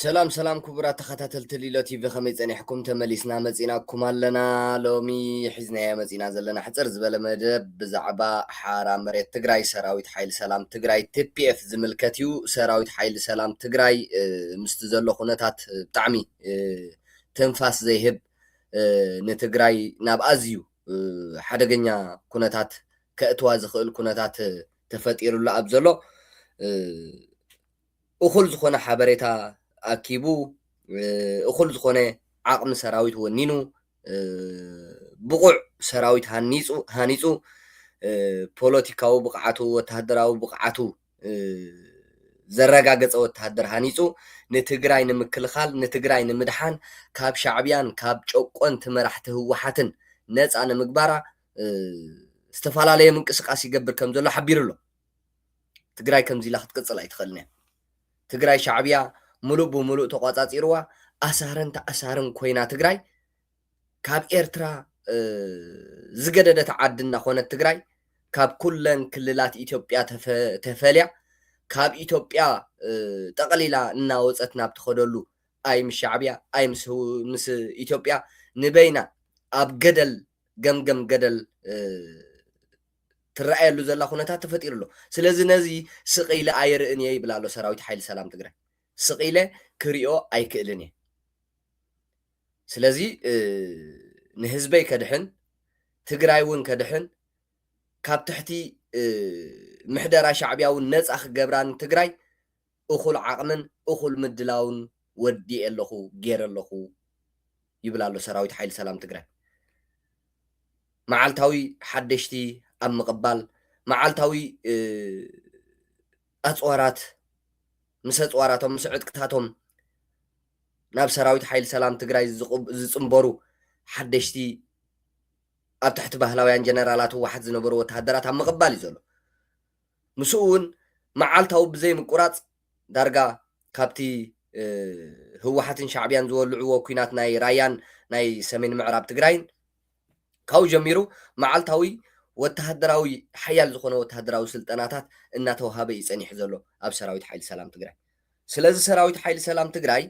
ሰላም ሰላም ክቡራት ተኸታተልቲ ሊሎ ቲቪ ከመይ ጸኒሕኩም ተመሊስና መጺናኩም ኣለና ሎሚ ሒዝናዮ መጺና ዘለና ሕጽር ዝበለ መደብ ብዛዕባ ሓራ መሬት ትግራይ ሰራዊት ሓይሊ ሰላም ትግራይ ቲፒኤፍ ዝምልከት እዩ ሰራዊት ሓይሊ ሰላም ትግራይ ምስቲ ዘሎ ኩነታት ብጣዕሚ ትንፋስ ዘይህብ ንትግራይ ናብ ኣዝዩ ሓደገኛ ኩነታት ከእትዋ ዝኽእል ኩነታት ተፈጢሩሉ ኣብ ዘሎ እኹል ዝኾነ ሓበሬታ ኣኪቡ፣ እኹል ዝኾነ ዓቕሚ ሰራዊት ወኒኑ፣ ብቑዕ ሰራዊት ሃኒፁ ሃኒፁ፣ ፖለቲካዊ ብቕዓቱ፣ ወታሃደራዊ ብቕዓቱ ዘረጋገፀ ወታሃደር ሃኒፁ ንትግራይ ንምክልኻል፣ ንትግራይ ንምድሓን፣ ካብ ሻዕቢያን ካብ ጨቆንቲ መራሕቲ ህወሓትን ነፃ ንምግባራ ዝተፈላለየ ምንቅስቓስ ይገብር ከምዘሎ ሓቢሩ ኣሎ። ትግራይ ከምዚ ኢላ ክትቅፅል ኣይትኽእልን እያ። ትግራይ ሻዕብያ ሙሉእ ብሙሉእ ተቋፃፂርዋ ኣሳርን ተኣሳርን ኮይና ትግራይ ካብ ኤርትራ ዝገደደት ዓዲ እናኾነት ትግራይ ካብ ኩለን ክልላት ኢትዮጵያ ተፈልያ ካብ ኢትዮጵያ ጠቕሊላ እናወፀት ናብ ትኸደሉ ኣይ ምስ ሻዕብያ ኣይ ምስ ኢትዮጵያ ንበይና ኣብ ገደል ገምገም ገደል ትረኣየሉ ዘላ ኩነታት ተፈጢሩ ኣሎ። ስለዚ ነዚ ስቕ ኢለ ኣይርእን እየ ይብል ኣሎ ሰራዊት ሓይሊ ሰላም ትግራይ። ስቕ ኢለ ክሪኦ ኣይክእልን እየ። ስለዚ ንህዝበይ ከድሕን ትግራይ እውን ከድሕን ካብ ትሕቲ ምሕደራ ሻዕቢያ እውን ነፃ ክገብራን ትግራይ እኹል ዓቕምን እኹል ምድላውን ወዲኤ ኣለኹ፣ ገይረ ኣለኹ ይብል ኣሎ ሰራዊት ሓይሊ ሰላም ትግራይ። መዓልታዊ ሓደሽቲ ኣብ ምቕባል፣ መዓልታዊ ኣፅዋራት ምስ ኣፅዋራቶም ምስ ዕጥቅታቶም ናብ ሰራዊት ሓይሊ ሰላም ትግራይ ዝፅምበሩ ሓደሽቲ ኣብ ትሕቲ ባህላውያን ጀነራላት ህወሓት ዝነበሩ ወተሃደራት ኣብ ምቕባል እዩ ዘሎ። ምስኡ'ውን መዓልታዊ ብዘይምቁራጽ ዳርጋ ካብቲ ህወሓትን ሻዕብያን ዝወልዕዎ ኲናት ናይ ራያን ናይ ሰሜን ምዕራብ ትግራይን ካብኡ ጀሚሩ መዓልታዊ ወተሃደራዊ ሓያል ዝኾነ ወተሃደራዊ ስልጠናታት እናተውሃበ እዩ ጸኒሑ ዘሎ ኣብ ሰራዊት ሓይሊ ሰላም ትግራይ። ስለዚ ሰራዊት ሓይሊ ሰላም ትግራይ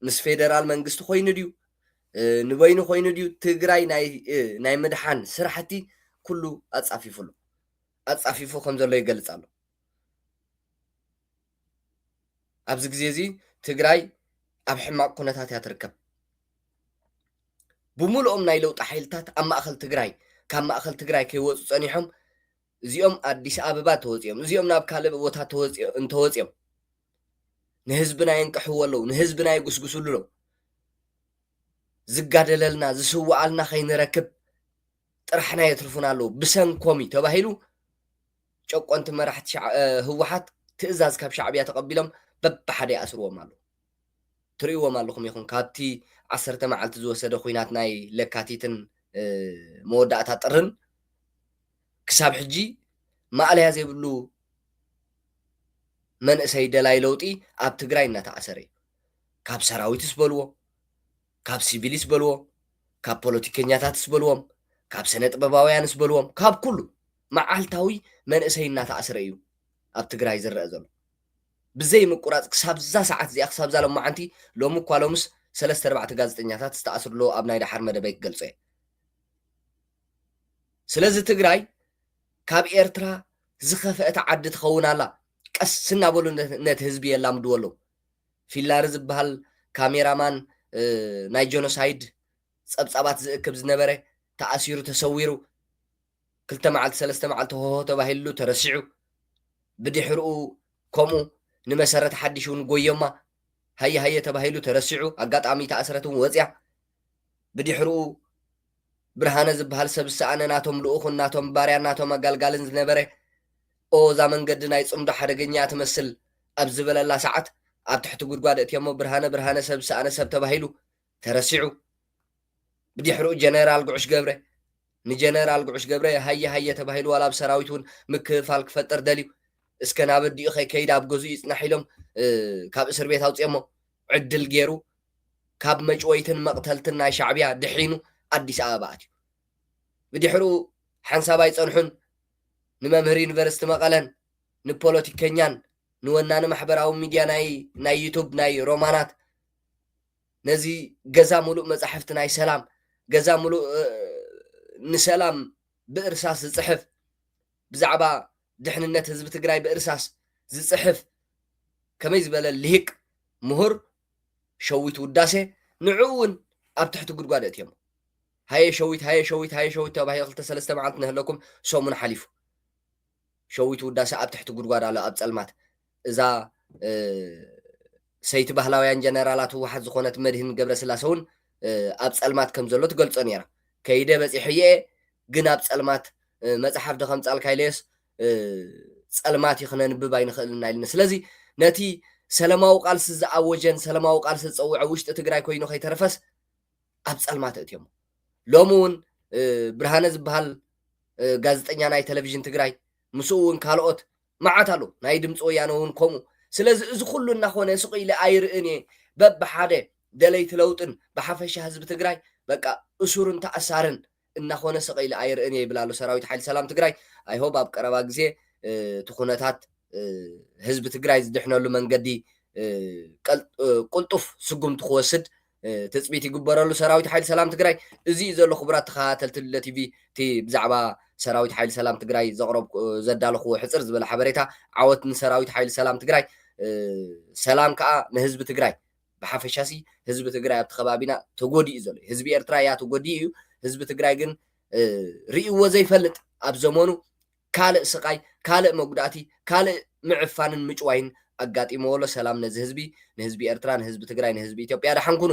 ምስ ፌደራል መንግስቲ ኮይኑ ድዩ ንበይኑ ኮይኑ ድዩ ትግራይ ናይ ምድሓን ስራሕቲ ኩሉ ኣጻፊፉ ኣሎ ኣጻፊፉ ከም ዘሎ ይገልጽ ኣሎ ኣብዚ ግዜ እዚ ትግራይ ኣብ ሕማቕ ኩነታት እያ ትርከብ ብምልኦም ናይ ለውጢ ሓይልታት ኣብ ማእኸል ትግራይ ካብ ማእኸል ትግራይ ከይወፁ ፀኒሖም እዚኦም ኣዲስ ኣበባ ተወፂኦም እዚኦም ናብ ካልእ ቦታ ተወፂኦ እንተወፂኦም ንህዝብና የንቅሕዎ ኣለዉ ንህዝብና የጉስጉስሉ ኣለዉ ዝጋደለልና ዝስውዓልና ከይንረክብ ጥራሕና የትርፉና ኣለዉ ብሰንኮም እዩ ተባሂሉ ጨቆንቲ መራሕቲ ሻዕ- እ፣ ህወሓት ትእዛዝ ካብ ሻዕብያ ተቐቢሎም በብሓደ ይኣስርዎም ኣለዉ ትርእይዎም ኣለኹም ይኹን ካብቲ ዓሰርተ መዓልቲ ዝወሰደ ኩናት ናይ ለካቲትን እ፣ መወዳእታ ጥርን ክሳብ ሕጂ ማእለያ ዘይብሉ መንእሰይ ደላይ ለውጢ ኣብ ትግራይ እናተኣሰረ እዩ። ካብ ሰራዊትስ በልዎ፣ ካብ ሲቪልስ በልዎ፣ ካብ ፖለቲከኛታትስ በልዎም፣ ካብ ሰነ ጥበባውያንስ በልዎም፣ ካብ ኩሉ መዓልታዊ መንእሰይ እናተኣስረ እዩ ኣብ ትግራይ ዝረአ ዘሎ። ብዘይ ምቁራፅ ክሳብዛ ሰዓት እዚኣ ክሳብዛ ሎማዓንቲ ሎሚ እኳ ሎምስ ሰለስተ ኣርባዕተ ጋዜጠኛታት ዝተኣስሩ ኣለዉ ኣብ ናይ ደሓር መደበይ ክገልፆ እየ። ስለዚ ትግራይ ካብ ኤርትራ ዝኸፈአት ዓዲ ትኸውን ኣላ ቀስ እናበሉ ነቲ ህዝቢ የላምድዎ ኣለው ፊላሪ ዝበሃል ካሜራ ማን ናይ ጆኖሳይድ ጸብጻባት ዝእክብ ዝነበረ ተኣሲሩ ተሰዊሩ ክልተ መዓልቲ ሰለስተ መዓልቲ ሆሆ ተባሂልሉ ተረሲዑ ብድሕርኡ ከምኡ ንመሰረት ሓድሽ እውን ጎዮማ ሃየ ሃየ ተባሂሉ ተረሲዑ ኣጋጣሚ ተኣስረት እውን ወፅያ ብድሕርኡ ብርሃነ ዝብሃል ሰብ ዝሰኣነ ናቶም ልኡኽን ናቶም ባርያን ናቶም ኣጋልጋልን ዝነበረ ኦ እዛ መንገዲ ናይ ጽምዶ ሓደገኛ እያ ትመስል ኣብ ዝበለላ ሰዓት ኣብ ትሕቲ ጉድጓድ እእትዮሞ ብርሃነ ብርሃነ ሰብ ዝሰኣነ ሰብ ተባሂሉ ተረሲዑ ብዲሕርኡ ጀነራል ጉዑሽ ገብረ ንጀነራል ጉዑሽ ገብረ ሃየ ሃየ ተባሂሉ ዋላ ኣብ ሰራዊት እውን ምክፍፋል ክፈጥር ደልዩ እስከ ናብ ኣዲኡ ከይከይድ ኣብ ገዝኡ ይጽናሕ ኢሎም ካብ እስር ቤት ኣውጽኦሞ ዕድል ገይሩ ካብ መጭወይትን መቕተልትን ናይ ሻዕብያ ድሒኑ ኣዲስ ኣበባ ኣትዩ። ብድሕሩ ሓንሳብ ኣይጸንሑን ንመምህር ዩኒቨርስቲ መቐለን ንፖለቲከኛን ንወናኒ ማሕበራዊ ሚድያ ናይ ናይ ዩቱብ ናይ ሮማናት ነዚ ገዛ ሙሉእ መጻሕፍቲ ናይ ሰላም ገዛ ሙሉእ ንሰላም ብእርሳስ ዝጽሕፍ ብዛዕባ ድሕንነት ህዝቢ ትግራይ ብእርሳስ ዝፅሕፍ ከመይ ዝበለ ሊሂቅ ሙሁር ሸዊት ውዳሴ ንዑ እውን ኣብ ትሕቲ ጉድጓድ ኣእትዮሞ ሃየ ሸዊት ሃየ ሸዊት ሃየ ሸዊት ተባሂሉ ክልተ ሰለስተ መዓልቲ ነህለኩም ሰሙን ሓሊፉ ሸዊት ውዳሴ ኣብ ትሕቲ ጉድጓድ ኣሎ ኣብ ፀልማት እዛ ሰይቲ ባህላውያን ጀነራላት ህወሓት ዝኾነት መድህን ገብረስላሰ እውን ኣብ ፀልማት ከም ዘሎ ትገልፆ ነይራ። ከይደ በፂሐዮ እየ ግን ኣብ ፀልማት መፅሓፍ ዶ ከምፃልካ ኢለዮስ ፀልማት እዩ ክነንብብ ኣይንኽእልን እና ኢልኒ። ስለዚ ነቲ ሰለማዊ ቃልሲ ዝኣወጀን ሰለማዊ ቃልሲ ዝፀውዐ ውሽጢ ትግራይ ኮይኑ ከይተረፈስ ኣብ ፀልማት እትዮሞ። ሎሚ እውን ብርሃነ ዝበሃል ጋዜጠኛ ናይ ቴሌቪዥን ትግራይ ምስኡ እውን ካልኦት መዓት ኣሎ ናይ ድምፂ ወያነ እውን ከምኡ ስለዚ እዚ ኩሉ እናኾነ ስቅ ኢለ ኣይርእን እየ በብሓደ ደለይቲ ለውጥን ብሓፈሻ ህዝቢ ትግራይ በቃ እሱርን ተኣሳርን እናኾነ ስቅ ኢለ ኣይርእን እየ ይብል ኣሎ ሰራዊት ሓይሊ ሰላም ትግራይ i hope ኣብ ቀረባ ግዜ እቲ ኩነታት ህዝቢ ትግራይ ዝድሕነሉ መንገዲ ቁልጡፍ ስጉምቲ ክወስድ ትፅቢት ይግበረሉ ሰራዊት ሓይሊ ሰላም ትግራይ። እዚ እዩ ዘሎ ክቡራት ተኸታተልቲ ልለ ቲቪ እቲ ብዛዕባ ሰራዊት ሓይሊ ሰላም ትግራይ ዘቕረብ ዘዳለኹዎ ሕፅር ዝበለ ሓበሬታ ዓወት ንሰራዊት ሓይሊ ሰላም ትግራይ ሰላም ከዓ ንህዝቢ ትግራይ ብሓፈሻ ሲ ህዝቢ ትግራይ ኣብቲ ከባቢና ተጎዲኡ ዘሎ እዩ ህዝቢ ኤርትራ እያ ተጎዲኡ እዩ ህዝቢ ትግራይ ግን ርእይዎ ዘይፈልጥ ኣብ ዘመኑ ካልእ ስቃይ ካልእ መጉዳእቲ ካልእ ምዕፋንን ምጭዋይን ኣጋጢምዎ ኣሎ ሰላም ነዚ ህዝቢ ንህዝቢ ኤርትራ ንህዝቢ ትግራይ ንህዝቢ ኢትዮጵያ ደሓን ኩኑ።